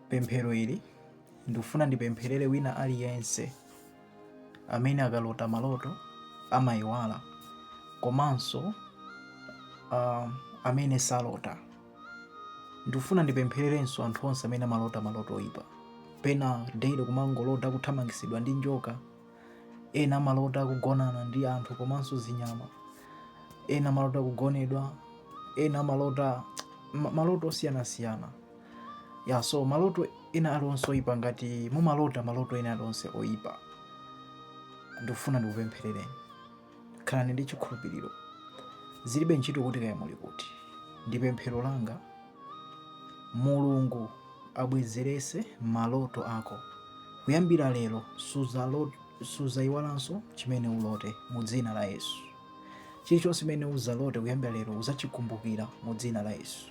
pemphero ili ndikufuna ndipempherere wina aliyense amene akalota maloto amayiwala komanso uh, amene salota ndikufuna ndipemphererenso anthu onse amene amalota maloto oyipa pena daily kumangolota kuthamangitsidwa ndi njoka Ena amalota kugonana ndi anthu komanso zinyama. Ena amalota kugonedwa. Ena amalota ma- maloto osiyanasiyana. Ya so maloto ena alionse oyipa ngati mumalota maloto ena alionse oyipa. Ndikufuna ndikupempherereni. Khalani ndi chikhulupiriro. Zilibe ntchito kuti kaya muli kuti. Ndi pemphero langa, Mulungu abwezerese maloto ako. Kuyambira lero suzayiwalanso chimene ulote mu dzina la Yesu. Chilichonse chimene uzalote kuyambira lero uzachikumbukira mu dzina la Yesu.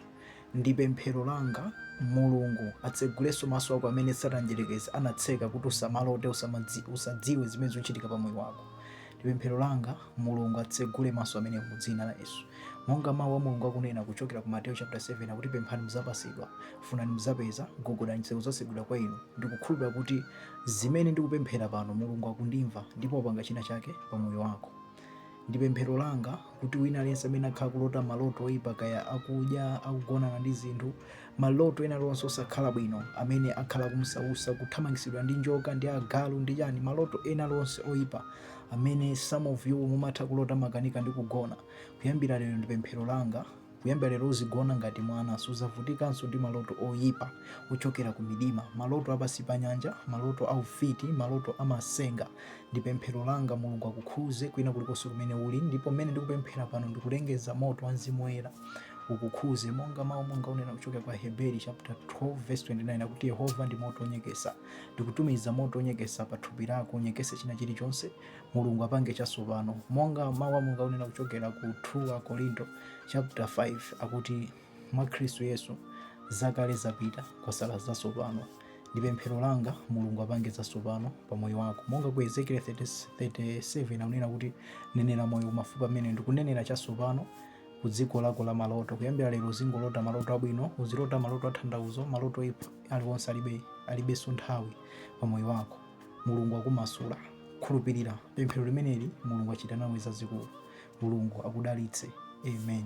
Ndi pemphero langa Mulungu atsegulenso maso ako amene Satana Mdyerekezi anatseka kuti usamalote, usamadzi, usadziwe zimene zikuchitika pa moyo wako. Ndi pemphero langa Mulungu atsegule maso amenewo mu dzina la Yesu. Monga mawu a Mulungu akunena kuchokera ku Mateyu chapter 7 akuti pemphani mudzapasidwa, funani mudzapeza, gogodani zitseko zatsegulidwa kwa inu. Ndikukhulupirira kuti zimene ndikupemphera pano Mulungu akundimva ndipo apanga china chake pa moyo wako. Ndi pemphero langa kuti wina aliyense amene akhala kulota maloto oyipa kaya akudya akugonana ndi zinthu maloto ena alionse osakhala bwino amene akhala kumsausa kuthamangitsidwa ndi njoka ndi agalu ndi chani maloto ena alionse oyipa amene some of you mumatha kulota makanika ndi kugona kuyambira lero ndi pemphero langa Kuyambira lero uzigona ngati mwana. Sudzavutikanso ndi maloto oipa ochokera kumidima, maloto a pansi pa nyanja, maloto a ufiti, maloto a matsenga. Ndi pemphero langa, Mulungu akukhudze kwina kulikonse kumene uli. Ndipo mmene ndikupemphera pano, ndikulengeza moto wa Mzimu Woyera ukukhudze. Monga Mawu Mulungu akunena kuchokera kwa Aheberi chapter 12 verse 29 akuti, Yehova ndi moto wonyeketsa. Ndikutumiza moto wonyeketsa pa thupi lako, unyeketse china chilichonse. Mulungu apange chatsopano. Monga Mau a Mulungu akunena kuchokera ku 2 Akorinto chapter 5 akuti mwa Khristu Yesu zakale zapita kwasala zatsopano. Ndi pemphero langa Mulungu apange zatsopano pa moyo wako. Monga ku Ezekiel 37 akunena kuti nenera moyo mafupa amene ndikunenera chatsopano ku dziko lako la maloto. Kuyambira lero uzingolota maloto abwino, uzilota maloto atanthauzo, maloto oipa aliwonse alibe alibenso nthawi pa moyo wako. Mulungu akumasula. Khulupirira pemphero limeneli, Mulungu achita nawe zazikulu. Mulungu akudalitse. Amen.